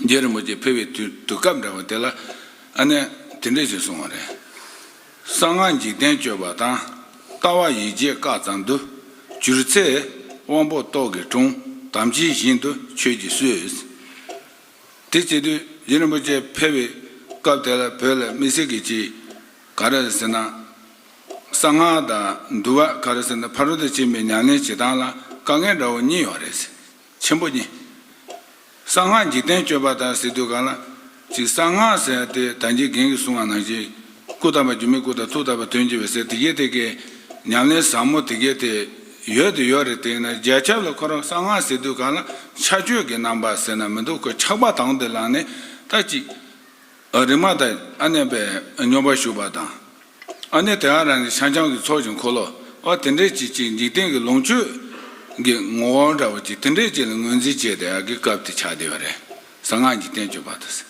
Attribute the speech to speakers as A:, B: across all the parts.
A: རྗེ་རིན་པོ་ཆེ་ཕེབས་པའི་དུས་དུས་སྐབས་འདྲ་བ་དེ་ལ་ཨ་ནན་དེ་འདྲས་ཞེས་གསུངས་བ་རེད། གསང་སྔགས་འཇིག་རྟེན་སྤྱོད་པ་དང། ལྟ་བ་ཡིད་བྱེད་བཀག་ཙམ་དུ་གྱུར་ཚེ། དབང་པོ་རྟོག་གེ་དྲུང་དམ་ཅན་བཞིན་དུ་ཆོས་ཀྱིས་གསོས། དེ་བྱེད་དུས་རྗེ་རིན་པོ་ཆེ་ཕེབས་པའི་སྐབས་དེ་ལ་བོད་ལ་མི་སེར་གྱི་ཆེད་ག་རེ་ཟེར་ན། གསང་སྔགས་དང་འདུལ་བ་ག་རེ་ཟེར་ན་ཕ་རོལ་ཏུ་ཕྱིན་པའི་ཉམས་ལེན་བྱེད་སྟངས་ལ་དཀའ་ངལ་འདྲ་བོ་གཉིས་ཡོད་རེད། ཆེན་པོ་གཉིས། གསང་སྔགས་འཇིག་རྟེན་སྤྱོད་པ་དང་སྲིད་དུ་གང་ལ། ཅིག་གསང་སྔགས་ཟེར་ཏེ་དམ་ཅན་གིང་གི་གསུང་བ་ནང་བཞིན། སྐུ་དམ་པ་སྒྱུ་མའི་སྐུ་དང་ཐུགས་དམ་པ་དོན་གྱི་བའི་སྲས་དེ་གས་དེ་གས། ཉམས་ལེན་ཟབ་མོ་དེ་གས་དེ། ཡོད་དེ་ཡོད་རེད་དེང་ན་རྒྱལ་ཁྱབ་ལ་འཁོར་རོགས་གསང་སྔགས་སྲིད་དུ་གང་ལ། ཕྱག་མཆོད་ཀྱི་རྣམ་པ་ཟེར་ན་མི་འདུག་གོ་ཆགས་པ་དང་དུ་ལངས་ནས་ད་ཅིག། རིག་མ་དང་ཨ་ནེ་པས་སྙོམས་པར་ཞུགས་པ་དང། ཨ་ནེ་དེའང་རང་གི་ཤངས་བྱང་གི་ཚོགས་ཀྱི་འཁོར་ལོ་བ་དེ་འདྲའི་གཅིག་ཅིག་འཇིག་རྟེན་གྱི་ལོངས་སྤྱོད་ཀྱི་ངོ་བོ་འདྲ་བ་ཅིག་དེ་འདྲའི་གཅིག་ལ་ངོས་འཛིན་བྱས་ཏེ་ཨ་གི་སྐབས་དེ་ཆགས་བསྡད་པ་རེད་ཟེར་སྔགས་ཀྱི་བསྟན་བཅོས་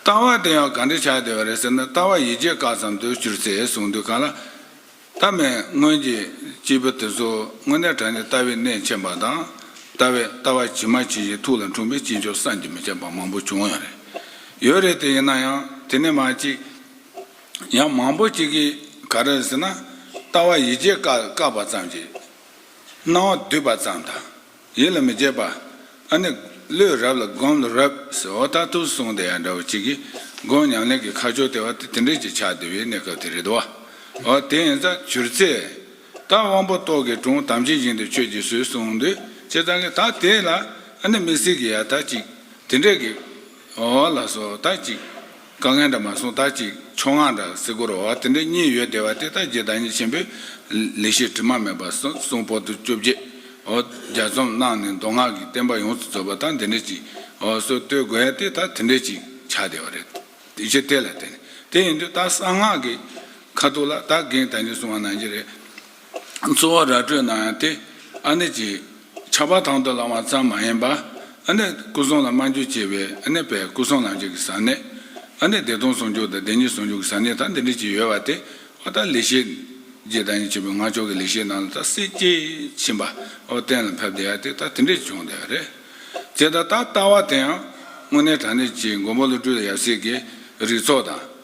A: པ་དང། ལྟ་བ་དེ་ཡང་གང་འདྲས་ཆགས་བསྡད་པ་རེད་ཟེར་ན་ལྟ་བ་ཡིད་ཆེས་བཀག་ཙམ་དུ་གྱུར་ཚེ་གསུངས་དུས་གང་ལ། ཐ་མལ་སྔོན་གྱི་སྐྱེས་བུ་དེ་ཚོ་དངོས་གནས་དྲང་ནས་ལྟ་བའི་གནས་མཁྱེན་པ་དང། ལྟ་བས་ལྟ་བ་ཇི་མ་ཇི་བཞིན་ཐུགས་ལ་འཁྲུངས་པའི་སྐྱེས་མཆོག་བསམ་གྱིས་མི་ཁྱབ་པ་མང་པོ་བྱུང་ཡང་རེད། ཡོད་རེད་དེ་ཡིན་ན་ཡང་དེ་ནས་མ་གཅིག། ཡང་མང་པོ་གཅིག་གིས་ག་རེ་ཟེར་ན། ལྟ་བ་ཡིད་ཆེས་བཀག་པ་ཙམ་གྱིས། སྣང་བ་སྡུད་པ་ཙམ་དང། ཡིད་ལ་མི་བྱེད་པ། ཨ་ནི། ལོས་རབས་ལ་སྒོམ་ལ་རབ། ཟེར་བ་ལྟར་ཐུགས་སུ་སོང་དེ་ཡང་འདྲ་བོ་ཅི་གི། སྒོམ་ཉམས་ལེན་གྱི་ཁ་ཕྱོགས་དེ་བ་དེ་དེ་འདྲས་ཀྱི་ཆགས་བསྡད་པའི་གནས་སྐབས་དེ་རེད་དོ། འོ་དེ་ཡིན་ཙང་བྱུར་རྩེ། ད་དབང་པོ་ཏོག་གི་དྲུང་དམ་ཅན་བཞིན་དུ་ཁྱོད་ཀྱིས་བཟོད་གསུངས་འདི་ཅི་ཙང་གི་ད་དེ་ལ། ཨ་ནི་མི་སྲིད་ཀྱི་ཡ་ད་ཅིག། དེ་འདྲས་ཀྱི། འོ་ལ་སོ་ད་ཅིག། དཀའ་ངལ་འདྲ་མ་སོང་ད་ཅིག་ཆོ་འང་དང་སེ་གོ་རོ་བ་དེ་འདྲ་གཉིས་ཡོད་བསྡད་པ་དེ་དག་རྗེ་བདག་ཉིད་ཆེན་པོས་ལེགས་བཤད་དྲི་མ་མེད་པ་གསུང་བོ་དུ་བཅོ་བརྒྱད་འོ་རྒྱ་རྩོམ་གནང་ནས་མདོ་སྔགས་ཀྱི་བསྟན་པ་ཡོངས་སུ་རྫོགས་པ་དང་དེ་འདྲ་ཅིག་འོ་སོ་བསྟོད་དགོས་ཡ་དེ་དག་དེ་འདྲ་ཅིག་བྱ་བསྡད་པ་རེད། དེ་ཕྱིར་དེ་ལ་བརྟེན་ནས་དེ་ཡིན་དུས་ད་གསང་སྔགས་ཀྱི་ཁ་ཐུག་ལ་ད་གིང་ད་ཉིད་གསུང་བ་གནང་གྱི་རེད། གཙོ་བོ་ར་སྤྲོད་གནང་ཡང་དེ་ཨ་ནེ་ཀྱི་ཆགས་པ་དང་དུ་བླང་བ་ཙམ་མ་ཡིན་པར་ཨ་ནེ་སྐུ་གསུང་ལ་སྨྲ་རྒྱུ་བཅས་པའི་ཨ་ནེ་བས་སྐུ་གསུང་ལམ་བྱེད་ཀྱི་ཟབ་གནད་ཨ་ནེ་བདེ་སྟོང་ཟུང་འཇུག་དང་བདེན་གཉིས་ཟུང་འཇུག་གི་ཟབ་གནད་དག་འདི་འདྲའི་ཅིག་ཡོད་པ་དེ་ཨོ་ད་ལི་ཤེས་རྗེས་བདག་ཉིད་ཆེན་པོའི་ངག་ཆོག་གི་ལི་ཤེས་རྣམས་ལ་ད་སྲིད་སྐྱེས་ཕྱིན་པ་འོ་གཏན་ལ་ཕབ་བསྡད་ཡ་དེ་ད་དེ་འདྲས་བྱུང་བསྡད་རེད་ཅེས་ད་ད་ལྟ་བ་དེ་ཡང་དངོས་གནས་དྲང་གནས་ཀྱི་མགོན་པོ་བློ་གྲོས་ཡབ་སྲས་ཀྱི་རིགས་ཚོགས་དང།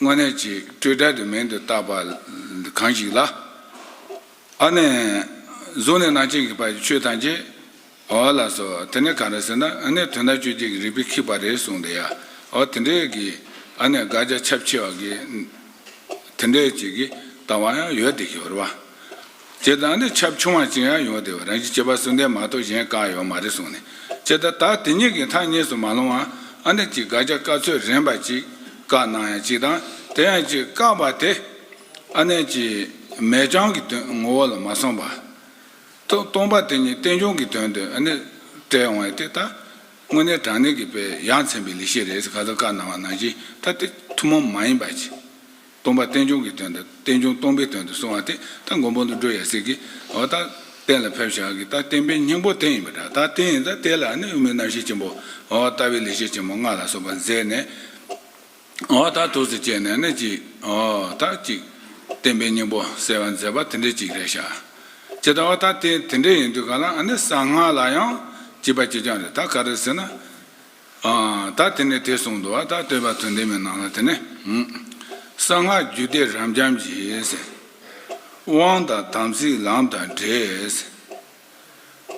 A: དངོས་གནས་ཀྱི་སྤྲོས་བྲལ་དུ་མིང་དུ་བཏགས་པ་གང་ཞིག་ལ། ཨ་ནི། གཟུགས་ནི་ནང་བྱན་གྱི་བར་གྱི་ཆོས་ཐམས་ཅད། འོ་ལགས་སོ། དེ་ནི་གང་རེད་ཟེར་ན་ཨ་ནི་དོན་དམ་ཆོས་བརྒྱད་ཀྱི་རིགས་པས་ཁེགས་པ་རེད་གསུངས་འདི་ཡ། འོ་དེ་འདྲའི་གི་ཨ་ནི་དགག་བྱ་ཁྱབ་ཆེ་བ་གི། དེ་འདྲའི་ཅིག་གི་ལྟ་བ་ཡང་ཡོད་དེ་ཞོར་བ། ཅེས་དང་འདི་ཆབ་ཆུང་བ་ཅིག་ཡང་ཡོང་སྡད་པ་རང་བཞིན་སྐྱེས་པ་སུ་འདས་མ་གཏོགས་གཞན་གང་ཡང་ཡོད་མ་རེད་གསུངས་ནས་ཅེས་ད་ལྟ་དེ་གཉིས་ཀྱི་མཐའ་གཉིས་སུ་མ་ལྷུང་བ་ཨ་ནེ་གཅིག་དགའ་སྐྱག་བཀའ་ཚོད་རན་པ་ཅིག་བཀག་གནང་ཡང་ཅིག་དང་དེ་ཡང་ཅིག་བཀག་པ་དེ་ཨ་ནེ་གཅིག་མེ་བྱང་གི་དོན་ངོ་བོ་ལ་མ་སོང་བ་དང་སྟོང་པ་དེ་གཉིས་བསྟན་སྐྱོང་གི་དོན་དུ་ཨ་ནེ་སྤྲད་ཡོང་བས་དེ་ད་དངོས་གནས་དྲང་གནས་ཀྱི་དཔེ་ཡང་ཚན་པའི་ལི་ཤེས་རེད་ཟེར་ག་ཚོད་བཀག་གནང་བ་ནང་བཞིན་ད་དེ་ཐུན་མོང་མ་ཡིན་པ་ཅིག་སྟོང་པ་རྟེན་འབྱུང་གི་དོན་དང་རྟེན་འབྱུང་སྟོང་པའི་དོན་དུ་སོང་བ་དེ་ད་མགོན་པོ་འདུག་འགྲོ་ཡ་སྲིད་ཀྱི། འོ་ད་རྟེན་ལ་ཕེབས་བཞག་གི་ད་བརྟེན་པའི་སྙིང་པོ་རྟེན་ཡིན་པ་འདྲ་ད་རྟེན་ཡིན་ད་རྟེན་ལ་ནི་དབུ་མའི་རྣམ་ཤེས་ཆེན་པོ་འོ་ལྟ་བུའི་ལེགས་བཤད་ཆེན་མོ་ལྔ་ལ་སོགས་པ་མཛད་ནས། འོ་ད་ཐུགས་སུ་བསྐྱེད་ནས་ནི་གཅིག་འོ་ད་གཅིག། རྟེན་པའི་སྙིང་པོ་གསལ་བར་མཛད་པ་དེ་འདྲའི་གཅིག་རེ་བྱ། ཅི་ད་འོ་ད་རྟེན་དེ་འདྲའི་ཡིན་དུས་ག་ལ་ཨ་ནི་གསང་སྔགས་ལ་ཡང་གཅིག་པ་གཅིག་རྐྱང་རེད་ད་ག་རེ་ཟེར་ན། ད་དེ་ནས་དེས་གསུངས་འདུག་ད་བསྟོད་པ་དོན་ལྡན་མའི་ནང་ལ་དེ་ནས། གསང་སྔགས་རྒྱུད་སྡེ་རབ་འབྱམས་ཀྱི། དབང་དང་དམ་ཚིག་ལམ་དང་འབྲས།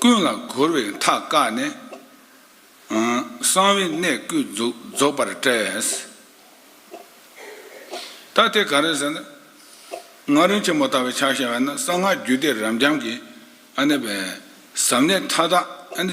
A: ཀུན་ལ་གོལ་བའི་མཐའ་བཀག་ནས། གསང་བའི་གནད་བསྐུལ་རྫོགས་པར་བཀྲལ། ད་དེ་ག་རེ་ཟེར་ན། སྔགས་རིང་ཆེན་མོ་ལྟ་བའི་ཕྱག་བྱ་བས་ན་གསང་སྔགས་རྒྱུད་སྡེ་རབ་འབྱམས་ཀྱི། ཟབ་གནད་མཐའ་དག།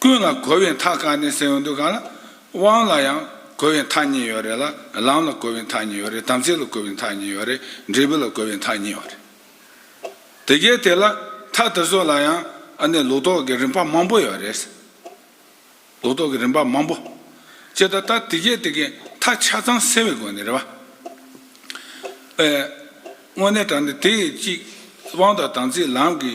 A: ཀུན་ལ་གོ་བའི་མཐའ་གང་ནས་སེམས་འདུག་གང་ལ། དབང་ལ་ཡང་གོ་བའི་མཐའ་གཉིས་ཡོད་རེད་ལ། ལམ་ལ་གོ་བའི་མཐའ་གཉིས་ཡོད་རེད་དམ་ཚིག་ལ་གོ་བའི་མཐའ་གཉིས་ཡོད་རེད་འབྲས་བུ་ལ་གོ་བའི་མཐའ་གཉིས་ཡོད་རེད། དེ་གའི་དེ་ལ་མཐའ་དེ་ཚོ་ལ་ཡང་ཨ་ནི་ལུགས་ལྡོག་གི་རིམ་པ་མང་པོ་ཡོད་རེད། ལུགས་ལྡོག་གི་རིམ་པ་མང་པོ། ཅེས་ད་ལྟ་དེ་གའི་དེ་གའི་མཐའ་ཆ་ཚང་སེལ་བའི་སྒོ་ནས་རེད་བ། དངོས་གནས་དྲང་ནས་དེ་གཅིག་དབང་དང་དམ་ཚིག་ལམ་གྱི།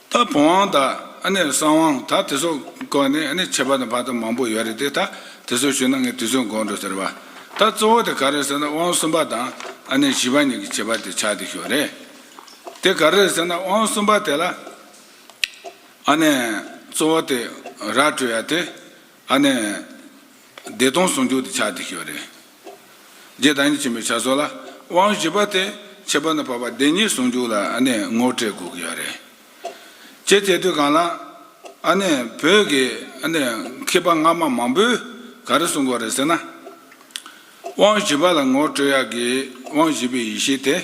A: ད་བོང་དབང་དང་ཨ་ནེ་གསང་དབང་ད་དེ་སོགས་བཀོད་ནས་ཨ་ནེ་བྱེད་པ་དང་བར་དོ་མང་པོ་ཡོད་རེད་དེ་ད་དེ་སོགས་ཞུས་ན་ངས་དུས་ཚོད་འགོར་འགྲོ་ཟེར་བ། ད་གཙོ་བོ་དེ་ག་རེད་ཟེར་ན་དབང་གསུམ་པ་དང་ཨ་ནེ་བཞི་པ་གཉིས་ཀྱི་བྱེད་པ་དེ་ཆགས་བསྡད་ཞོར་རེད། དེ་ག་རེད་ཟེར་ན་དབང་གསུམ་པ་དེ་ལ་ཨ་ནེ་གཙོ་བོ་དེ་ར་སྤྲོད་ཡ་དེ། ཨ་ནི། བདེ་སྟོང་ཟུང་འཇུག་དེ་ཆ་དེ་ཤོས་རེད། རྗེས་བདག་ཉིད་ཆེན་པོའི་བྱ་སོ་ལ་དབང་བཞི་པ་དེ་ཕྱི་པ་ནི་བར་པ་བདེན་གཉིས་ཟུང་འཇུག་ལ་ཨ་ནི་ངོ་སྤྲད་དགོས་ཀྱི་ཡོད་རེད། ཅེས་དེ་དུས་གང་ལ། ཨ་ནི། བོད་ཀྱི་ཨ་ནི་མཁས་པ་སྔ་མ་མང་པོས་ག་རེ་གསུངས་པ་རེད་ཟེར་ན། དབང་བཞི་པ་ལ་ངོ་སྤྲོད་ཡག་གི་དབང་བཞི་པའི་ཡེ་ཤེས་དེ་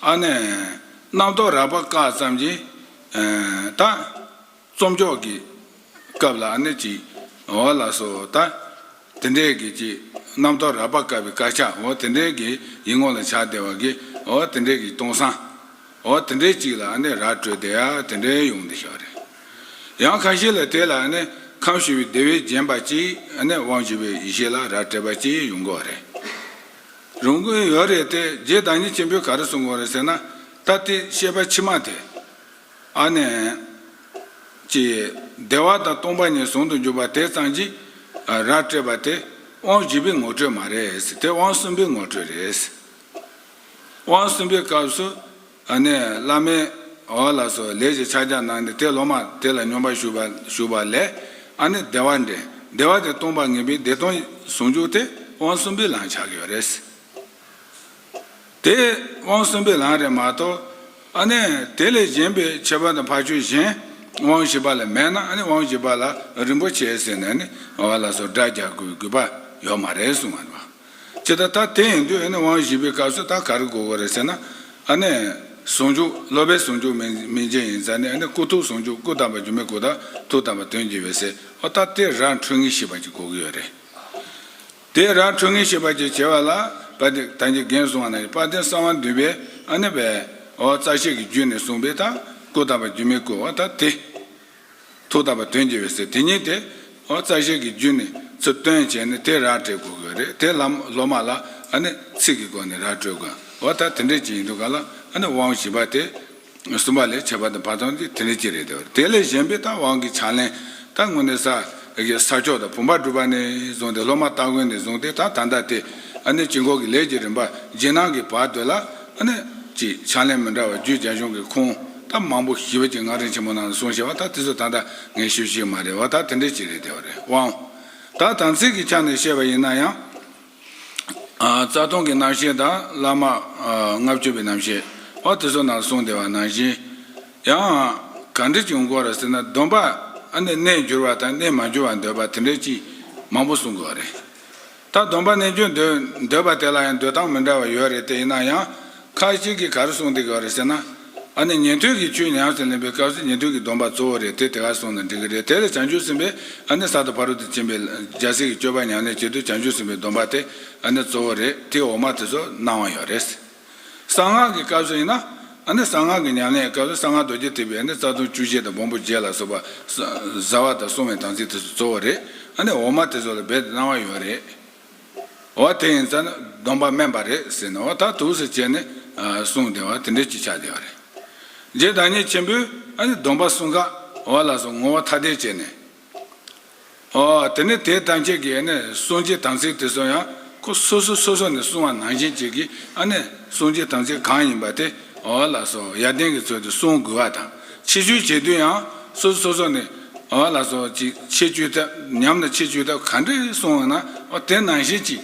A: ཨ་ནི། རྣམ་རྟོག་རགས་པ་བཀག་ཙམ་གྱིས། ད། རྩོམ་ཕྱོགས་ཀྱི་སྐབས་ལ་ནི་ཅིག་འོ་ལ་སོ་དང། དེ་འདྲའི་གི་ཅིག་རྣམ་རྟོག་རགས་པ་བཀར་བའི་དཀར་ཆ་འོ་དེ་འདྲའི་གི་ཡིག་ངོ་ལ་ཆགས་བདེ་བ་གི་འོ་དེ་འདྲའི་གི་སྟོང་སང་འོ་དེ་འདྲའི་ཅིག་ལ་ནི་ར་སྤྲོད་དེ་ཡ་དེ་འདྲའི་ཡོང་བདེ་ཤག་རེད། ཡང་ཁ་ཤས་ལ་དེ་ལ་ནི་ཁམས་ཞི་བའི་བདེ་བས་བརྒྱན་པ་ཅིག་ནི་དབང་བཞི་པའི་ཡེ་ཤེས་ལ་ར་སྤྲད་པ་ཅིག་ཡོང་གོ་རེད། རུང་གི་ཡོད་རེད་དེ་རྗེ་བདག་ཉིད་ཆེན་པོས་ག་རེ་གསུང་གོ་རེད་ཟེར་ན་ད་དེ་བཤད་པ་ཕྱི་མ་དེ། ཨ་ནན། ཀྱིས། བདེ་བ་དང་སྟོང་པ་གཉིས་ཟུང་དུ་འཇུག་པ་དེ་ཙམ་གྱིས། ར་སྤྲད་པ་དེ། དབང་བཞི་པའི་ངོ་སྤྲོད་མ་རེད། དེ་དབང་གསུམ་པའི་ངོ་སྤྲོད་རེད། དབང་གསུམ་པའི་སྐབས་སུ། ཨ་ནན། བླ་མས། ཨོ་ལ་སོ་ལས་ཀྱི་ཕྱག་རྒྱ་གནང་ནས་དེ་སློབ་མ་དེ་ལ་སྙོམས་པར་ཞུགས་པ་ཞུགས་པ་ལས། ཨ་ནི་བདེ་བ་འདྲེན། བདེ་བ་དེ་སྟོང་པ་ངེས་པའི་བདེ་སྟོང་ཟུང་འཇུག་དེ་དབང་གསུམ་པའི་ལམ་ཆགས་ཡོད་རེད། དེས་དབང་གསུམ་པའི་ལམ་རེད་མ་གཏོགས། ཨ་ནི་དེ་ལས་གཞན་པའི་ཁྱད་པར་དང་འཕགས་ཆོས་གཞན་དབང་བཞི་པ་ལ་མེད་ན་ཨ་ནི་དབང་བཞི་པ་ལ་རིན་པོ་ཆེ་ཟེར་ནས་ནི་བ་ལ་སོགས་སྒྲ་རྒྱག་དགོས་དགོས་པ་ཡོད་མ་རེད་གསུང་བ་རེད་བ། ཇི་ལྟར་ད་དེ་ཡིན་དུས་ཨ་ནི་དབང་བཞི་པའི་སྐབས་སུ་ད་ག་རེ་གོ་དགོས་རེད་ཟེར་ན། ཨ་ནི་ཟུང་འཇུག་སློབ་པའི་ཟུང་འཇུག་མིང་ཅན་ཡིན་ཙང་ནི་ཨ་ནི་སྐུ་ཐུག་ཟུང་འཇུག་སྐུ་དམ་པ་སྒྱུ་མའི་སྐུ་དང་ཐུགས་དམ་པ་དོན་གྱི་འོད་ཟེར་ཨོ་ད་དེ་རང་འཕྲུལ་ངེས་ཤེས་པ་གཅིག་གོ་གི་ཡོད་རེད། དེས་རང་འཁྲུལ་ངེས་ཤེས་པ་ཅེས་བྱ་བ་ལ་བ་དེ་དང་གྱི་རྒན་གསུང་བ་ན་དཔའ་ཐན་གསང་བ་འདུས་པའི་ཨ་ནི་བའི་ཨོ་རྩ་ཤེས་ཀྱི་རྒྱུད་ནས་གསུངས་པའི་ཐ་སྐུ་དམ་པ་སྒྱུ་མའི་སྐུ་བ་ད་དེ། ཐུགས་དམ་པ་དོན་གྱི་བའི་སྲས་དེ་ཉིད་དེ་ཨོ་རྩ་ཤེས་ཀྱི་རྒྱུད་ནས་ཚུར་སྟོན་བྱས་ནས་དེ་ར་སྤྲད་དགོས་གི་རེད་དེ་ལམ་སློབ་མ་ལ་ཨ་ནི་ཚིག་གི་སྒོ་ནས་ར་སྤྲོད་དགོས་བ་ད་དེ་འདྲས་ཅིག་ཡིན་འདུག་ག་ལ་ཨ་ནི་དབང་བཞི་པ་དེ། གསུམ་པ་ལས་བྱེད་པ་དང་བར་དོ་འདི་དེ་ལས་གཅིག་རེད་དེ། དེ་ལས་གཞན་པའི་རྟགས་དབང་གི་ཕྱག་ལེན་རྟགས་དངོས་ནི། ས་ཕྱོགས་དང་བུམ་པ་སྒྲུབ་པ་ནས་བཟུང་སྟེ་སློབ་མ་སྟ་གོན་ནས་བཟུང་སྟེ་ད་ད་ལྟ་སྟེ། དཀྱིལ་འཁོར་གྱི་ལས་ཀྱི་རིམ་པ་རྗེས་གནང་གི་བར་དོ་ལ། གཅིག་ཕྱག་ལེན་མི་འདྲ་བ་བརྒྱུད་རྒྱ་གཞུང་གི་ཁུངས་རྟགས་མང་པོ་ཞིབ་ཅིང་སྔགས་རིང་ཆེན་མོ་ནང་དུ་གསུངས་ཞེས་པ་ད་དེ་ཚོ་ད་ལྟ་ངས་ཞུ་ཞིག་མ་རེད་བ་ད་དེ་འདྲའི་གཅིག་རེད་དེ། དབང་དང་དམ་ཚིག་གི་ཆ་ནས་བཤད་པ་ཡིན་ན་ཡང། རྩ་སྟོང་གི་རྣམ་ཤེས་དང་བླ་མ་ལྔ་བཅུ་པའི་རྣམ་ཤེས་འོ་དེ་ཚོ་རྣམས་གསུངས་བདེ་བ་ནང་བཞིན། ཡང། གང་འདྲི་བྱུང་སྐོར་ར་ཟེར་ན་སྡོམ་པ་ཨ་ནི་གནས་འགྱུར་བ་དང་གནས་མ་འགྱུར་བ་འདོད་པ་དེ་འདྲའི་ཅིག་མང་པོ་གསུངས་དགོས་རེད། ད་སྡོམ་པ་གནས་འགྱུར་འདོད་པ་དེ་ལ་ཡང་འདོད་སྟངས་མི་འདྲ་བ་ཡོད་རེད་དེ་ཡིན་ན་ཡང། ཁ་ཅིག་གིས་གར་གསུངས་འདི་ག་རེད་ཟེར་ན། ཨ་ནི་ཉན་ཐོས་ཀྱི་ཆོས་ཉམས་སུ་ལེན་པའི་སྐབས་སུ་ཉན་ཐོས་ཀྱི་སྡོམ་པ་གཙོ་བོ་རེད་དེ་དེ་གར་གསུངས་ན་འགྲིག་གི་རེད་དེ་ལ་བྱང་ཆུབ་སེམས་དཔའི་ཨ་ནི་ས་དང་ཕ་རོལ་ཏུ་ཕྱིན་པའི་ལྗགས་སྲེག་གི་སྤྱོད་པ་ཉམས་ལེན་བྱེད་དུས་བྱང་ཆུབ་སེམས་དཔའི་སྡོམ་པ་དེ་ཨ་ནི་གཙོ་བོ་རེད་དེ་འོག་མ་དེ་ཚོ་སྣང་བ་ཡོད་རེད། གསང་སྔགས་ཀྱི་སྐབས་སུ་ཡིན་ན། ཨ་ནི་གསང་སྔགས་ཀྱི་ཉམས་ལེན་གྱི་སྐབས་སུ་གསང་སྔགས་རྡོ་རྗེ་ཐེག་པའི་ཨ་ནི་རྩ་ལྟུང་བཅུ་བཞི་དང་སྦོམ་པོ་བརྒྱད་ལ་སོགས་པ། བཟའ་བ་དང་བསྲུང་བའི་དམ་ཚིག་དེ་ཚོ་གཙོ་བོ་རེད་ཨ་ནི་འོག་མ་དེ་ཚོ་ལ་རྦད་དེ་སྣང་བ་ཡོད་རེད། བ་དེ་ཡིན་ཙང་སྡོམ་པ་དམན་པ་རེད་ཟེར་ནའོ་ད་དུག་སེ་བྱས་ནས་གསུངས་བདེ་བ་དེ་འདྲས་ཅིག་ཆགས་བདེ་བ་རེད། རྗེ་བདག་ཉིད་ཆེན་པོས་ཨ་ནི་སྡོམ་པ་གསུང་སྐ་བ་ལ་སོགས་ངོ་བོ་ཐ་དད་བྱས་ནས། ཨོ་དེ་ནི་དེ་ཐམས་ཅད་ཀྱི་ཨ་ནི་གསུང་གྱི་དམ་ཚིག་དེ་ཚོ་ཡང་ཁོ་སོ་སོ་སོ་སོ་ནས་གསུང་བ་ནང་བཞིན་བྱེད་ཀྱི་ཨ་ནི་གསུང་གྱི་དམ་ཚིག་གང་ཡིན་པ་དེ་ཨོ་ལ་སོགས་ཡར་ལྡན་གྱི་ཚུལ་དུ་གསུང་དགོས་བ་དང། ཕྱི་བཅོས་བྱེད་དུས་ཡང་སོ་སོ་སོ་སོ་ནས་ཨོ་ལ་སོགས་ཀྱིས་ཕྱི་བཅོས་ཐབས་ཉམས་ལ་ཕྱི་བཅོས་ཐབས་ག་འདྲས་གསུང་བ་ན་ཨོ་དེ་ནང་བཞིན་གྱིས་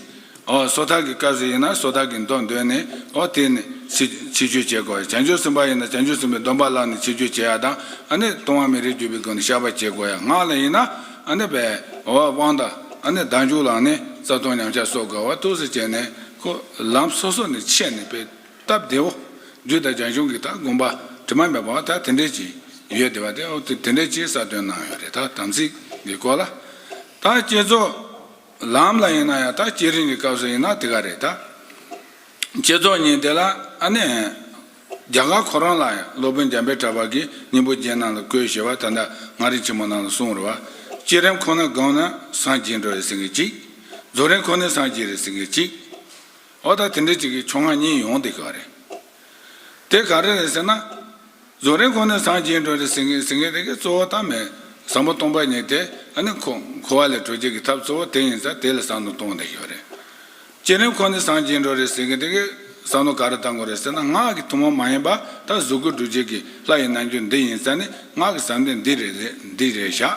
A: ཨོ་སོ་ཐར་གྱི་སྐབས་སུ་ཡིན་ན་སོ་ཐར་གྱི་མདོ་འདོན་ནས་ཨོ་དེ་ནས་ཕྱི་ཕྱི་བཅོས་བྱེད་དགོས་བྱང་ཆུབ་སེམས་དཔའ་ཡིན་ན་བྱང་ཆུབ་སེམས་དཔའི་སྡོམ་པ་བླངས་ནས་ཕྱི་བཅོས་བྱེད་ཡ་དང་ཨ་ནི་ལྟུང་བ་མི་རིགས་གྱུར་པའི་སྒོ་ནས་བཤགས་པ་བྱེད་དགོས་ཡ་སྔགས་ལ་ཡིན་ན་ཨ་ནི་བས་ཨོ་བ་དབང་དང་ཨ་ནི་བདག་འཇུག་ལངས་ནས་རྩ་ལྟུང་ཉམས་ཆག་སོགས་དགོས་བ་ཐུགས་སུ་བཅས་ནས་ཁོ་ལམ་སོ་སོ་ནས་ཕྱེ་ནས་སྤེལ། སྟབས་བདེའོ། རྒྱུད་དང་རྒྱ་གཞུང་གིས་ད་དགོངས་པ་དྲི་མ་མེད་པའང་ད་དེ་འདྲའི་ཅི་ཡོད་དེ་བ་དེ་འོག་ཏུ་དེ་འདྲའི་ཅིའི་གསར་སྟོན་གནང་ཡོད་རེད་ད་དམ་ཚིག་གི་སྐོར་ལ། ད་བསྐྱེད་རྫོགས་ལམ་ལ་ཡིན་ན་ཡང་ད་བསྐྱེད་རིང་གི་སྐབས་སུ་ཡིན་ན་དེ་ག་རེད་ད། བསྐྱེད་རྫོགས་ཉིན་དེ་ལ་ཨ་ནེ། རྒྱ་གར་ཁོ་རང་ལ་ཡང་སློབ་དཔོན་འཇམ་པའི་གྲགས་པ་གིས་སྙིང་པོ་རྒྱན་རྣམས་ལ་བཀོད་ཞེས་པ་ད་ལྟ་སྔགས་རིང་ཆེན་མོ་རྣམས་ལ་གསུངས་རེད་བ། བསྐྱེད་རིམ་ཁོ་ན་དགོངས་ན་སངས་རྒྱས་འགྲོ་རེ་ཟེར་ངེས་གཅིག། རྫོགས་རིམ་ཁོ་ནས་སངས་རྒྱས་རེ་ཟེར་ངེས་གཅིག། འོ་ད་དེ་འདྲ་ཅིག་གི་ཆོ་ངག་གཉིས་ཡོང་དེ་ག་རེ། དེ་ག་རེ་རེད་ཟེར་ན། བཟོ་རིན་ཁོ་ནས་ཟངས་སྐྱེས་འགྲོ་རེད་ཟེར་ཟེར་མཁན་རེ་གི་གཙོ་བོ་ད་མེད་ཟངས་པོ་སྟོང་པ་ཉིད་དེ་ཨ་ནི་ཁོ་ཁོ་བ་ལས་གྲོལ་བྱེད་ཀྱི་ཐབས་གཙོ་བོ་དེ་ཡིན་ས་དེ་ལས་ཟངས་ནོར་གཏོང་དེ་ཞོ་རེད། སྐྱེས་རིན་ཁོ་ནས་ཟངས་སྐྱེས་འགྲོ་རེད་ཟེར་མཁན་རེ་གི་ཟངས་ནོར་ག་རེ་གཏང་དགོས་རེད་ཟེར་ན་ངག་གི་ཐུན་མོང་མ་ཡིན་པ་ད་གཟུགས་སྐུ་སྒྲུབ་བྱེད་ཀྱི་ལྷ་ཡི་རྣལ་འབྱོར་འདི་ཡིན་ས་ནི་ངག་གི་ཟབ་འདོད་འདི་རེད་འདི་རེད་བཞག་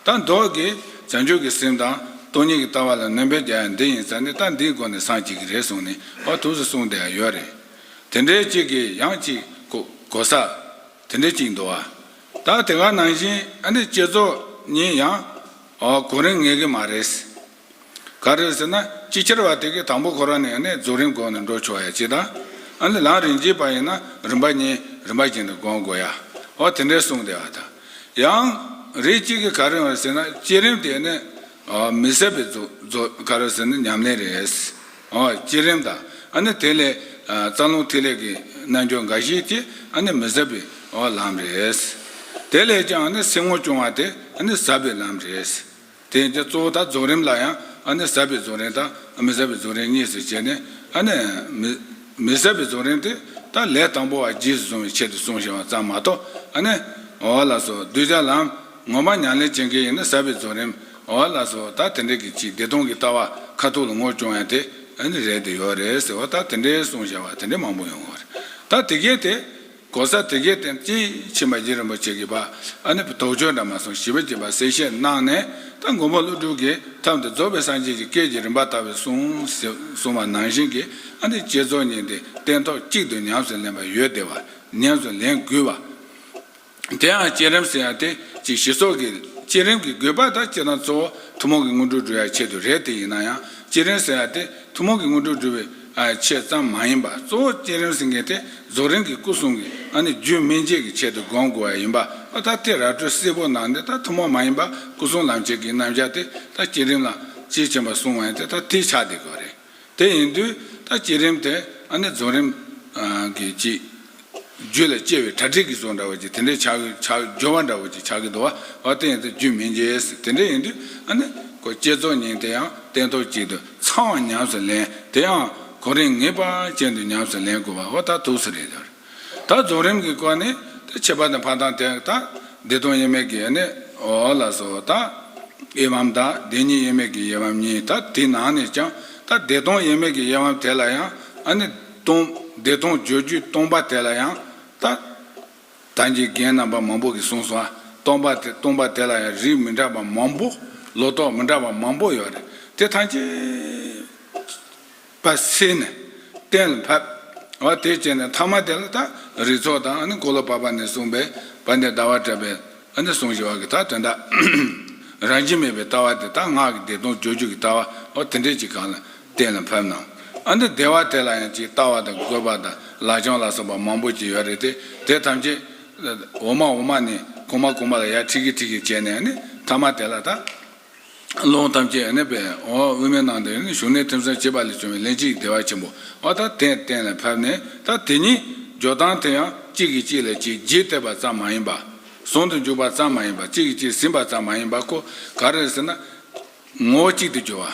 A: དང་བདག་གི་བྱང་ཆུབ་ཀྱི་སེམས་དང་སྟོང་ཉིད་ཀྱི་ལྟ་བ་ལ་ནོན་པའི་རྒྱ་ཡང་འདི་ཡིན་ས་ནི་རྟགས་འདིའི་སྒོ་ནས་སངས་རྒྱས་ཀྱི་རེད་གསུངས་ནས་བར་དུགས་སུ་གསུངས་དེའང་ཡོད་རེད། དེ་འདྲའི་གཅིག་གིས་ཡང་གཅིག་གོ་ས། དེ་འདྲའི་གཅིག་འདུག་ཨ། ད་དེ་ག་ནང་བཞིན་ཨ་ནི་བསྐྱེད་རྫོགས་ཉིད་ཡང། གོ་རིང་ངེས་ཀྱི་མ་རེད། ག་རེད་ཟེར་ན་ཅིག་ཅར་བ་དེ་གའི་དང་པོ་ཁོ་རང་ནས་ནས་རྫོགས་རིམ་དགོངས་ནས་འགྲོ་ཆོག་ཡ་ཅིག་དང། ཨ་ལས་ལངས་རིན་གྱིས་པ་ཡིན་ན་རིམ་པ་གཉིས་རིམ་པ་གྱིས་འདི་དགོངས་དགོས་ཡ། འོ་དེ་འདྲའི་གསུངས་བསྡད་བ་དང། ཡང། རེ་གཅིག་གིས་ག་རེད་བ་ཟེར་ན་བསྐྱེད་རིམ་དེ་ནས། མི་ཟད་པའི་རྫོགས་ག་རེད་ཟེར་ན་ཉམས་ལེན་རེད། འོ་བསྐྱེད་རིམ་དང་ཨ་ནས་དེ་ལས། རྩ་རླུང་ཐིག་ལེ་གི་རྣལ་འབྱོར་འགའ་ཞིག་གིས་ཨ་ནས་མི་ཟད་པའི་ལམ་རེད། དེ་ལས་ཀྱང་ཨ་ནས་སེམས་ངོ་བསྐྱུང་བ་དེ་ཨ་ནས་ཟབ་པའི་ལམ་རེད། དེ་ནི་གཙོ་བོ་དང་རྫོགས་རིམ་ལ་ཡང་ཟབ་པའི་རྫོགས་རིམ་དང་མི་ཟབ་པའི་རྫོགས་རིམ་གཉིས་སུ་གྱེས་ནས། མི་ཟབ་པའི་རྫོགས་རིམ་དེ་དག་ལས་དང་པོ་བ་རྗེས་སུ་བཟུང་བའི་ཆེད་དུ་གསུངས་ཞེས་པ་ཙམ་མ་གཏོགས། འོ་ལགས་སོ། གདུལ་བྱ་ལམ་ངོ་མ་མྱང་ལས་ཅན་གྱི་ཡིན་ན་ཟབ་པའི་རྫོགས་རིམ། འོ་ལགས་སོ། ད་དེ་འདྲའི་གི་ཅིག་བདེ་སྟོང་གི་ལྟ་བ་ཁ་ཐུག་ལ་ངོར་བྱུང་ཡང་དེ་རེད་དེ་ཡོད་རེད་ཟེར་བ་ལྟར་དེ་འདྲའི་གསུངས་བཞག་བ་དེ་འདྲའི་མང་པོ་ཡོད་ངོ། ད་དེ་སྐད་དེ། གོང་ས་དེ་གའི་བསྟན་རྩིས་ཕྱི་མ་རྗེ་རིན་པོ་ཆེ་གི་བ་ཨ་ནི་བུ་དོག་ཆོས་འདྲ་མ་སོང་ཞི་བ་གྱི་བར་གསལ་བཤད་གནང་ནས་ད་མགོན་པོ་ཀླུ་སྒྲུབ་ཀྱི་ཐབས་འདི་རྫོགས་པའི་སངས་རྒྱས་ཀྱི་སྐད་ཀྱི་རིམ་པ་དར་བའི་གསུངས་གསུངས་བ་ནང་བཞིན་གྱི་ཨ་ནི་བསྐྱེད་རྫོགས་གཉིས་འདི་སྟན་ཐོག་གཅིག་ཏུ་ཉམས་སུ་ལེན་པ་ཡོད་བདེ་བ་ཉམས་སུ་ལེན་དགོས་བ། དེའང་བསྐྱེད་རིམ་ཟེར་ཡང་དེ་གཅིག་ཞི་སོགས་ཀྱི་བསྐྱེད་རིམ་གྱི་དགོས་པ་དང་སྤྱི་དང་གཙོ་བོ་ཐུན་མོང་གི་དངོས་གྲུབ་སྒྲུབ་ཡ་ཆེད་དུ་རེད་དེ་ཡིན་ན་ཡང་བསྐྱེད་རིམ་ཟེར་ཡང་དེ་ཐུན་མོང་གི་དངོས་གྲུབ་སྒྲུབ་པའི། ཆེད་ཙམ་མ་ཡིན་པར་གཙོ་བོ་བསྐྱེད་རིམ་ཟིན་མཁན་དེ་རྫོགས་རིམ་གྱི་སྐུ་གསུང་གི་ཨ་ནི་རྒྱུད་སྨིན་བྱེད་ཀྱི་ཆེད་དུ་དགོངས་དགོས་པ་ཡིན་པ་ཨ་ད་ལྟའི་ར་སྤྲོད་སིལ་བོ་ནང་འདི་ད་ཐུན་མོང་མ་ཡིན་པར་སྐུ་གསུང་ལམ་བྱེད་ཀྱི་རྣམ་གཞག་དེ་ད་བསྐྱེད་རིམ་ལ་དཔྱིས་ཕྱིན་པ་གསུང་བ་ཡིན་ཏེ་ད་དེའི་ཆ་དེ་གོ་རེད་དེ་ཡིན་དུས་ད་བསྐྱེད་རིམ་དེ་ཨ་ནི་རྫོགས་རིམ་གྱི་དཔྱིས་རྒྱུད་ལ་སྐྱེ་བའི་གྲ་སྒྲིག་གི་སོགས་འདྲ་བ་ཅིག་དེ་འདྲའི་ཆག་སྦྱོར་བ་འདྲ་བ་ཅིག་ཆགས་ཀྱི་འདུག་བ་བ་དེའི་ཚེ་རྒྱུད་མི་འཇལ་ཟེར་དེ་འདྲ་ཡིན་དུས་ཨ་ནི། ཁོ་བསྐྱེད་རྫོགས་ཉིན་དེ་ཡང་སྟན་ཐོག་གཅིག་ཏུ་ཚང་བར་ཉམས་སུ་ལེན་དེ་ཡང་གོ་རིམ་ངེས་པ་ཅན་དུ་ཉམས་སུ་ལེན་དགོས་པ་བ་ད་ཐུགས་སུ་རེད་ད་རྫོགས་རིམ་གྱི་སྐོར་ནི་ད་ཁྱད་པར་དུ་འཕགས་དང་དེ་དག་བདེ་སྟོང་དབྱེར་མེད་ཀྱི་ཨ་ནི་ཨོ་ལ་སོགས་དང། དབྱེ་བའམ་དག་བདེ་གཉིས་དབྱེར་མེད་ཀྱི་དབྱེ་བའམ་གཉིས་དང་དེའི་ནང་ནས་ཀྱང་ད་བདེ་སྟོང་དབྱེར་མེད་ཀྱི་དབྱེ་བའམ་དེ་ལ་ཡང་ཨ་ནི། སྟོང། བདེ་སྟོང་བརྗོད་རྒྱུད་སྟོང་པ་དེ་ལ་ཡང་རྟག། དམ་གྱི་རྒྱན་རྣམ་པ་མང་པོ་གིས་གསུངས་སོང་ཨ། སྟོང་པ་དེ་སྟོང་པ་དེ་ལ་ཡང་རིགས་མི་འདྲ་བ་མང་པོ། ལོ་ཏོག་མི་འདྲ་བ་མང་པོ་ཡོད་རེད། དེ་ཐམས་ཅད། པ་སེལ་ནས། གཏན་ལ་ཕབ། བ་དེ་བྱས་ནས་ཐ་མ་དེ་ལ་དག། རིགས་ཚོགས་དང་ཨ་ནི་ཀོ་ལོ་པ་པ་ནས་གསུངས་པའི། བ་འདི་ཟླ་བ་བྲལ་བའི། ཨ་ནི་ཟུང་བཞི་བ་གི་དག་དོན་དག། རང་བཞིན་མེད་པའི་ལྟ་བ་དེ་དག་སྔགས་ཀྱི་བདེ་སྟོང་བརྗོད་རྒྱུད་ཀྱི་ལྟ་བ། བ་དེ་འདྲས་ཀྱི་གང་ལ། གཏན་ལ་ཕབ་ན། ཨ་འདི་སྡེ་བ་དེ་ལ་ཡང་ཅིག་ལྟ་བ་དང་དགོད་པ་དང་ལག་བཅང་ལ་སོགས་པ་མང་པོ་ཅིག་ཡོད་རེད་དེ། དེ་ཐམས་ཅད། འོ་མ་འོ་མ་ནི་གོང་མ་གོང་མ་ལ་ཡར་ཁྲིག་ཁྲིག་ཁྲིག་ཁྲིག་བྱས་ནས་མཐའ་མ་དེ་ལ་ད། རླུང་ཐམས་ཅད་ནི་པའི་འོ་དབུས་མའི་ནང་དུ་ཞུགས་ནས་ཐིམ་སོང་བྱེད་པ་ལས་བྱུང་བའི་ལན་ཅིག་བདེ་བ་ཆེན་པོ་འོ་ད་དེ་གཏན་ལ་ཕབ་ནས་ད་དེ་ཉིད་སྦྱོར་སྟངས་དེ་ཡང་གཅིག་གིས་གཅིག་ལ་ཅིག་རྗེས་བཏེགས་པ་ཙམ་མ་ཡིན་པར། ཟུང་དུ་འཇུག་པ་ཙམ་མ་ཡིན་པར་གཅིག་གིས་གཅིག་ཟིན་པ་ཙམ་མ་ཡིན་པར་ཁོ་ག་རེ་ཟེར་ན། ངོ་བོ་གཅིག་ཏུ་གྱུར་བ།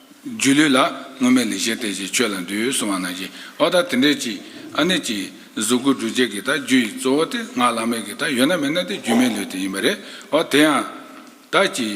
A: སྒྱུ་ལུས་ལ་སྔོན་མེད་ལས་བྱེད་དེ་བཞིན་ཁྱོད་ལ་འདུས་གསུང་བ་ན་བཞི་ཨོ་ད་དེ་འདྲའི་ཅི། ཨ་ནི་ཅི། གཟུགས་སྐུ་འབྲུ་བརྒྱད་ཀྱི་དག་རྒྱུ་ཡི་གཙོ་བོ་དེ་སྔགས་བླ་མེད་ཀྱི་དག་ཡོད་ན་མེད་ན་དེ་སྒྱུ་མའི་ལུས་དེ་ཡིན་པ་རེད་ཨོ་དེ་ཡང། ད་ཅི།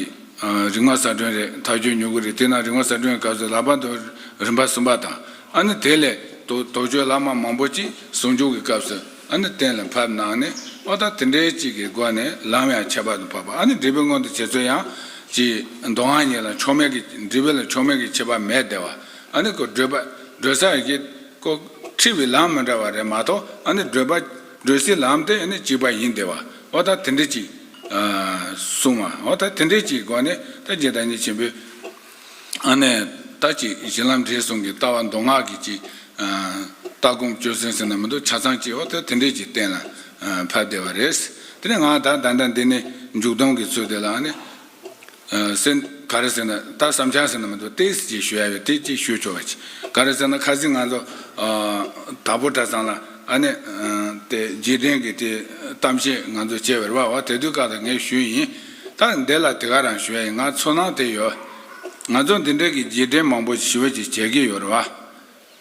A: རིག་མ་ཟ་སྒྲོན་རེད་དག་རྒྱུ་མྱུ་གུ་རེད་དེས་ན་རིག་མ་ཟ་སྒྲོན་གྱི་སྐབས་སུ་ལག་པ་དང་རིམ་པ་གསུམ་པ་དང། ཨ་ནི་དེ་ལས། དོགས་གཅོད་བླ་མ་མང་པོ་ཅིག་ཟུང་འཇུག་གི་སྐབས་སུ། ཨ་ནི་གཏན་ལ་ཕབ་ནང་ནས་ཨོ་ད་དེ་འདྲའི་ཅིག་གི་སྒོ་ནས་ལམ་ཡང་ཁྱད་པར་དུ་འཕགས་པ་ཨ་ནི་འདྲི་བའི་སྔོན་དུ་བྱེད་ཚུལ་ཡང་གཅིག་མདོ་སྔགས་ཉིད་ལ་ཕྱོགས་མེད་ཀྱི་འདྲི་བའི་ལ་ཕྱོགས་མེད་ཀྱི་ཁྱད་པར་མེད་བདེ་བ་ཨ་ནི་ཀོ་བགྲོད་པ་བགྲོད་ས་རེ་ཀི་ཀོ། འཁྲིད་པའི་ལམ་མི་འདྲ་བ་རེ་མ་གཏོགས་ཨ་ནི་བགྲོད་པ་བགྲོད་སའི་ལམ་དེ་ནི་གཅིག་པ་ཡིན་བདེ་བ་ཨོ་ད་དེ་འདྲའི་ཅིག། གསུམ་མ་ཨོ་ད་དེ་འདྲའི་ཅིག་གི་སྒོ་ནས་ད་རྗེ་བདག་ཉིད་ཆེན་པོའི། ཨ་ནེ། ད་ཅིག་གཞི་ལམ་འབྲས་གསུམ་གྱི་ལྟ་བ་མདོ་སྔགས་ཀྱི་ཅིག། ལྟ་སྒོམ་སྤྱོད་སེམས་སེམས་ནང་མི་འདོར་ཆ་ཚང་ཅིག་འོ་དེ་དེ་འདྲས་ཀྱིས་གཏན་ལ་ཕབ་བསྡད་པ་རེད། དེ་ནས་ང་ད་ད་ད་འདི་ནི་མཇུག་སྡོམ་གྱི་ཚུལ་དེ་ལ་ཨ་ནེ། སེ། ག་རེ་ཟེར་ན་ད་བསམ་འཆར་ཟེར་ན་མི་འདུག་ཏེ་ཟེར་གྱིས་ཞུ་ཡ་བས་དེ་ཅིག་ཞུས་ཆོག་པ་ཅིག་ག་རེ་ཟེར་ན་ཁ་ཟིག་ང་ཚོ། དྭགས་པོ་གྲྭ་ཚང་ལ་ཨ་ནེ། དེ་འཇིག་རྟེན་གྱི་དེ་གཏམ་བཤད་ང་ཚོ་བྱེད་པར་བ་བ་དེ་དུས་ཀ་ད་ངས་ཞུས་ཡིན། ད་འདི་ལ་དེ་ག་རང་ཞུ་ཡ་ཡིན་ང་ཚོ་ནང་དེ་ཡོད། ང་ཚོ་འདི་འདྲ་གི་རྗེས་དྲན་མང་པོ་ཞི་བ་ཞིག་བྱེད་ཀྱི་ཡོད་རེད་བ།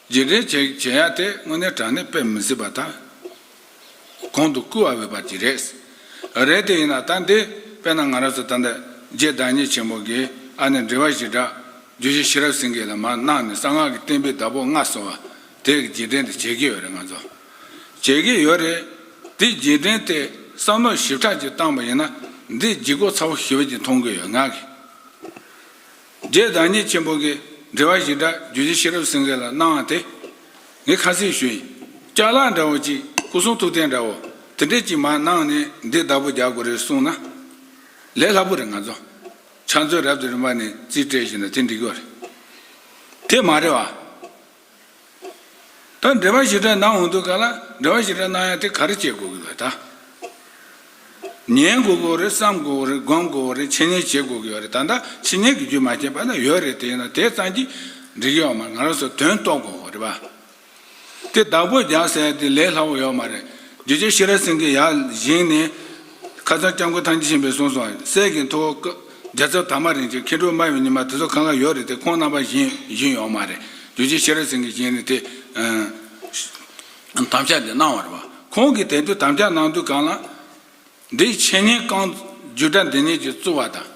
A: རྗེས་དྲན་བྱེད་བྱེད་ཡ་དེ་དངོས་གནས་དྲང་གནས་དཔེ་མི་སྲིད་པ་དང། གོང་དུ་བསྐུལ་བ་འོས་པ་ཅིག་རེད། རེད་དེ་ཡིན་ན་ད་འདི་དཔེ་ན་ང་རང་ཚོ་ད་ལྟ་རྗེ་བདག་ཉིད་ཆེན་པོ་གི་ཨ་ནེ་འབྲི་བ་ཞི་དྲག་རྒྱུད་བཞི་ཤེས་རབ་སེང་གེ་ལ་མར་གནང་ནས་གསང་སྔགས་ཀྱི་གཏན་དཔེ་བདག་པོ་ལྔ་གསོལ་བ་དེ་གི་རྗེས་དྲན་དེ་བྱེད་ཀྱི་ཡོད་རེད་ང་ཚོ། བྱེད་ཀྱི་ཡོད་རེད། དེ་རྗེས་དྲན་ཐད་བསམ་བློ་ཞིབ་ཕྲ་ཅིག་བཏང་པ་ཡིན་ན་འདི་ལྗིད་ཁོག་ཚ་བོ་ཞིག་བོད་ཀྱི་མཐོང་གི་ཡོད་ངག་གི། རྗེ་བདག་ཉིད་ཆེན་པོ་གི་འདྲི་བ་ཞིག་འདྲ་རྒྱུད་རྗེ་ཤེས་རབ་སེང་གེ་ལ་གནང་བ་དེ། ངས་ཁ་གསལ་ཞུ་ཡིན། ལྕགས་ལ་འདྲ་བོ་ཅིག་སྐུ་གསུང་ཐུགས་རྟེན་འདྲ་བོ་དེ་འདྲ་ཅིག་མ་གནང་ནས་འདི་བདག་པོ་རྒྱག་དགོས་རེད་གསུང་ན། ལས་སླ་པོ་རེད་ང་ཚོ་ཕྱག་མཛོད་རབ་ཏུ་རིམ་པ་ནས་རྩིས་སྤྲད་ཞིག་ན་དེ་འགྲིག་གི་རེད། དེ་མ་རེད་བ། ད་འབྲེལ་པ་ཞིག་དྲན་གནང་འོང་འདུག་ག་ལ་འབྲེལ་བ་ཞིག་དྲན་གནང་ཡང་དེ་ག་རེ་བྱེད་དགོས་ཀྱི་རེད་ད། ཉན་དགོས་ཀྱི་རེད་བསམ་དགོས་ཀྱི་རེད་དགོངས་དགོས་ཀྱི་རེད་འཆད་ཉན་བྱེད་དགོས་ཀྱི་རེད་ད་ལྟ་འཆད་ཉན་གྱི་རྒྱུ་མ་བྱས་པ་ན་ཡོད་རེད་དེ་ཡིན་ན་དེ་ཙམ་གྱིས་འགྲིག་ཡོད་མ་རེད་ང་རང་ཚོ་དོན་རྟོགས་དགོས་ཀྱི་རེད་པ། དེ་བདག་པོ་རྒྱག་ཟེར་ཡ་དེ་ལས་སླ་བོ་ཡོད་མ་རེད་རྒྱུ་ཆ་ཤི་ར་སེང་གེ་ཡར་བཞེངས་ནས། ཁ་སང་སྐྱབས་མགོན་ཐང་ཆེན་གཞན་པས་གསུངས་སོང་གསལ་གྱི་འཐུག་ཨོ་སྐབས་རྒྱ་ཚབ་དར་མ་རིན་ཆེན་མཁས་གྲུབ་སྨྲ་བའི་ཉི་མ་དེ་ཚོ་གང་གང་ཡོད་རེད་དེ་ཁོང་རྣམ་པ་གཞན་གཞན་ཡོད་མ་རེད་རྒྱུ་རྗེ་ཤེས་རབ་སེང་གེ་གཞན་ནི་དེ་དམ་བཅའ་འདི་གནང་བར་བ་ཁོང་གིས་དེ་དུས་དམ་བཅའ་གནང་དུས་གང་ལ། འདིའི་འཆད་ཉན་རྐང་བརྒྱུད་སྒྲ་འདི་ཉིད་ཀྱིས་བཙུགས་བ་དང།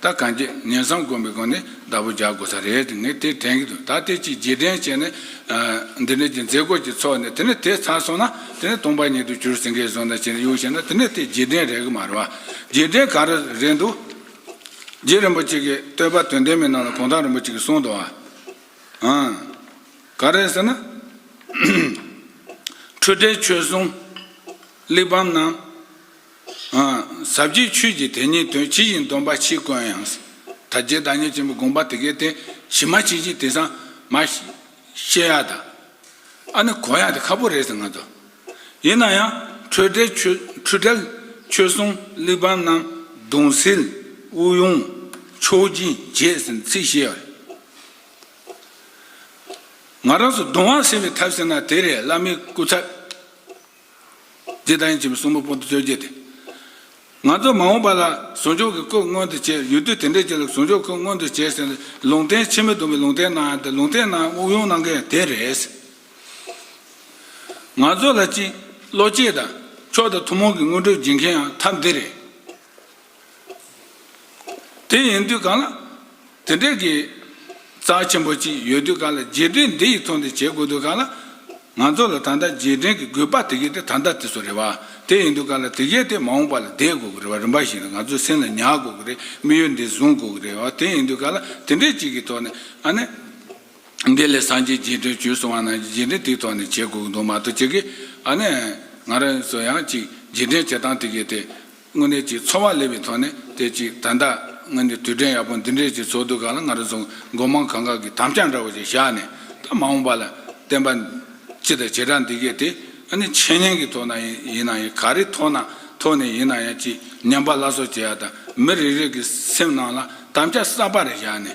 A: ད་གང་ཁྱེད་ངན་བསམ་དགོན་པའི་སྒང་ནས་བདག་པོ་རྒྱག་དགོས་ས་རེད་དེ་ངས་དེ་དྲན་གྱི་འདུག་ད་དེ་གཅིག་རྗེས་དྲན་བྱས་ནས། འདི་ནས་ཀྱི་མཛད་སྒོ་གཅིག་ཚོགས་ནས་དེ་ནས་དེ་ཚར་སོང་ན་དེ་ནས་སྟོང་པ་ཉིད་དུ་གྱུར་ཟིན་ཁའི་ཟོ་ན་བྱིན་གཡུག་བྱས་ན་དེ་ནས་དེ་རྗེས་དྲན་རེད་གི་མ་རེད་བ། རྗེས་དྲན་ག་རེ་རེད་འདུག། རྗེ་རིན་པོ་ཆེ་གིས་བསྟོད་པ་དོན་ལྡན་མི་གནང་ལ་གུང་ཐང་རིན་པོ་ཆེ་གིས་གསུངས་འདུག་བ། ཧཧཧ་ཟབ་རྒྱས་ཆོས་ཀྱི་དེ་ཉིད་དོན་ཇི་བཞིན་སྟོན་པ་ཕྱིས་དཀོན་ཡང། ད་རྒྱའི་བདག་ཉིད་ཆེན་པོ་དགོངས་པ་དེ་ཀའི་དེ་བཞིན་མ་ཅིག་ཅིག་དེ་སངས་མ། ཤེས་ཡ་དང། ཨ་ནི་གོ་ཡ་དེ་ཁ་པོ་རེད་ཟེར་ང་ཚོ། ཡིན་ན་ཡང་འཕྲོས་བྲལ་ཆོས་འཕྲལ་ཆོས་གསུང་གླེགས་བམ་རྣམས་གདུང་སེལ་དབུགས་དབྱུང་མཆོག་སྦྱིན་རྒྱས་ཟེར་ཚིག་བཤད་པ་རེད། ང་རང་ཚོ་གདུང་བ་སེལ་བའི་ཐབས་ཟེར་ན་དེ་རེད་བླ་མའི་སྐུ་ཚབ། ལྡན་གྱིས་གསུང་པོ་པོ་ཏི་བཅོ་བརྒྱད་དེ། ང་ཚོ་མ་འོངས་པ་ལ་ཟུང་འཇུག་གི་སྐུ་མངོན་དུ་བྱེད་ཡུལ་དུས་དེ་འདྲས་ཀྱི་ལ་ཟུང་འཇུག་སྐུ་མངོན་དུ་བྱས་ཟིན་ལ་ལུང་བསྟན་ཕྱི་མི་སྡོམ་པའི་ལུང་བསྟན་གནང་ཡང་དེ་ལུང་བསྟན་གནང་དབུགས་དབྱུང་གནང་མཁན་ཡང་དེ་རེད། ང་ཚོ་ལ་གཅིག་བློ་སྐྱེད་དང་ཕྱོགས་དང་ཐུན་མོང་གི་དངོས་གྲུབ་སྦྱིན་མཁན་ཡང་ཐམས་དེ་རེད། དེ་ཡིན་དུས་གང་ལ། དེ་འདྲའི་གི། རྩ་ཆེན་པོ་ཅིག་ཡོད་དུས་གང་ལ་རྗེས་དྲན་འདི་ཡིས་ཚོང་འདི་བྱེད་དགོས་དུས་གང་ལ། ང་ཚོ་ལ་ད་ལྟ་རྗེས་དྲན་གི་དགོས་པ་དེ་གས་དེ་ད་ལྟ་དེ་སོ་རེད་བ། དེ་ཡིན་དུས་གང་ལ་དེ་གས་དེ་མ་འོངས་པ་ལ་བསྡད་དགོས་གི་རེད་བ་རིམ་པ་བཞིན་ལ་ང་ཚོའི་སེམས་ལ་ཉར་དགོས་གི་རེད་མི་ཡུལ་འདི་བཟུང་དགོས་གི་རེད་བ་དེ་ཡིན་དུས་གང་ལ་དེ་འདྲའི་ཅིག་གི་ཐོག་ནས་ཨ་ནི། འདི་ལས་སངས་རྒྱས་རྗེས་དྲན་བྱོས་སོང་བ་ན་རྗེས་དྲན་དེའི་ཐོག་ནས་བྱེད་དགོས་གི་འདུག་མ་གཏོགས་ཅིག་གིས་ཨ་ནི། ང་རང་སོ་ཡང་ཅིག་རྗེས་དྲན་བྱེད་སྟངས་དེ་གས་དེ། དངོས་གནས་ཀྱི་འཚོ་བ་ལེ་བའི་ཐོག་ནས་བལྟས་ཅིག་ད་ལྟ་དངོས་གནས་དུས་དྲན་ཡག་པོ་འདི་འདྲའི་ཀྱི་ཚོགས་འདུ་གང་ལ་ང་རང་ཚོ་མགོ་མང་གང་གང་གི་དམ་བཅའ་འདྲ་བོ་ཞིག་བཞག་ནས་ད་མ་འོངས་པ་ལ་བསྟན་པ་སྤྱི་དང་བྱེ་བྲག་འདི་གས་དེ་ཨ་ནི་འཆད་ཉན་གྱི་ཐོག་ན་ཡིན་ན་ཡང་ག་རེ་ཐོག་ན་ཐོག་ནས་ཡིན་ན་ཡང་ཅི་ཉམས་པ་སླར་གསོ་བྱེད་ཡག་དང་མི་རེ་རེ་གི་སེམས་ནང་ལ་དམ་བཅའ་གསར་པ་རེ་བཞག་ནས་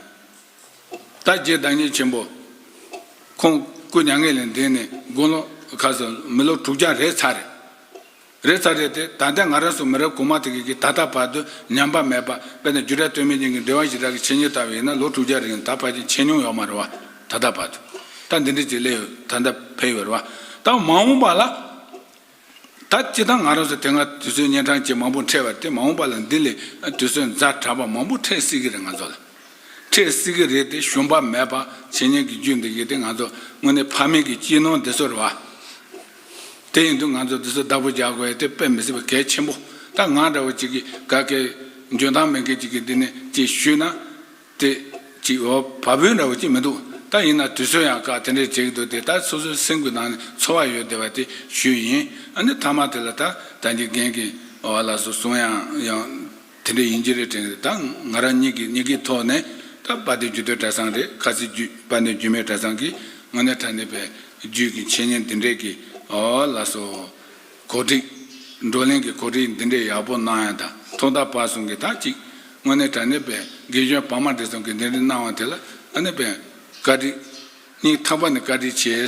A: ད་རྗེ་བདག་ཉིད་ཆེན་པོ་ཁོང་སྐུ་མྱ་ངན་ལས་འདས་ནས་དགུང་ལོ་ག་ཚོད་མི་ལོ་དྲུག་བརྒྱ་རེ་ཚར་རེད། རེད་ཚ་རེད་དེ་ད་ལྟའི་ང་རང་སོགས་མི་རབས་གོང་མ་དེ་གའི་གིས་ད་ལྟ་བར་དུ་ཉམས་པ་མེད་པ་དཔེར་ན་རྒྱུ་གྲྭ་སྟོད་སྨད་གཉིས་ཀྱི་འབྲེལ་བ་ཞིག་རག་གི་ཆེ་ཉེས་ལྟ་བ་ཡིན་ན་ལོ་དྲུག་བརྒྱ་རིང་ད་བར་གྱི་ཆེ་ཉུང་ཡོད་མ་རེད་བ་ད་ལྟ་བར་དུ་ད་འདི་འདྲའི་ཅིག་སླེ་ཡོད་ད་འདྲ་བས་ཡོད་རེད་བ་ད་མ་འོངས་པ་ལ་ད་སྤྱི་དང་ང་རང་སོགས་དེ་སྔ་དུས་ཚོད་གཉན་འཕྲང་བཅས་མང་པོ་འཕྲད་བ་དེ་མ་འོངས་པ་ལ་འདི་ལས་དུས་ཚོད་འཛའ་དྲག་པ་མང་པོ་འཕྲད་སྲིད་གི་རེད་ང་ཚོ་ལ་འཕྲད་སྲིད་གི་རེད་དེ་ཞུམ་པ་མེད་པ་བྱེད་ཉན་གི་རྒྱུ་འདི་གའི་དེ་ང་ཚོ་དངོས་གནས་ཕ་མེས་ཀྱི་སྐྱིད་སྣང་འདི་ཚོ་རེད་བ། དེ་ཡིན་དུས་ང་ཚོས་འདི་ཚོར་བདག་པོ་རྒྱག་དགོས་ཡ་དེ་དཔེ་མི་སྲིད་པ་གལ་ཆེན་པོ། ད་ང་འདྲ་བོ་ཅིག་གིས་ག་གེ། འཇོན་ཐང་མེད་མཁན་ཅིག་གིས་འདི་ནས་ཅིག་ཞུས་ན། དེ། ཅིག་འོ། བ་བུན་འདྲ་བོ་ཅིག་མི་འདུག་ད་ཡིན་ན་དུས་ཚོད་ཡང་བཀག་དེ་འདྲས་བྱེད་ཀྱི་འདུག་དེ་ལྟར་སོ་སོའི་སེམས་གུས་ནང་ནས་ཚོར་བ་ཡོད་བདེ་བ་དེ་ཞུས་ཡིན། ཨ་ནི་ཐ་མ་དེ་ལ་ད་ད་གི་རྒན་གིས་བ་ལ་སོ་གསུངས་ཡང། དེ་འདྲ་ཡིན་གྱི་རེད་དྲན་ད་ང་རང་ཉིད་ཀྱི་སྙིང་གའི་ཐོག་ནས་ད་པ་དེ་རྒྱུ་དོའི་གྲྭ་ཚང་རེད་ཁ་ཟེར་རྒྱུད་པ་ནི་རྒྱུ་མའི་གྲྭ་ཚང་གི་ངོ་ནས་ད་ནི་པའི་རྒྱུད་ཀྱི་འཆད་ཉན་འདི་འདྲས་ཀྱི་ལ་སོ། གོ་སྒྲིག། བགྲོ་གླེང་གི་གོ་སྒྲིག་འདི་འདྲས་ཡག་པོ་གནང་ཡང་ད་ཐོག་ད་བར་སོང་གི་ད་ཅིག་ངོ་ནས་གྲྭ་ནི་པའི་དགེ་སྐྱོན་བག་མ་འདི་སོང་གི་འདི་འདྲས་གནང་བ་དེ་ལ་ང་ནི་པའི་བཀའ་དྲིན་སྙིང་ཐག་པ་ནས་བཀའ་དྲིན་ཆེ།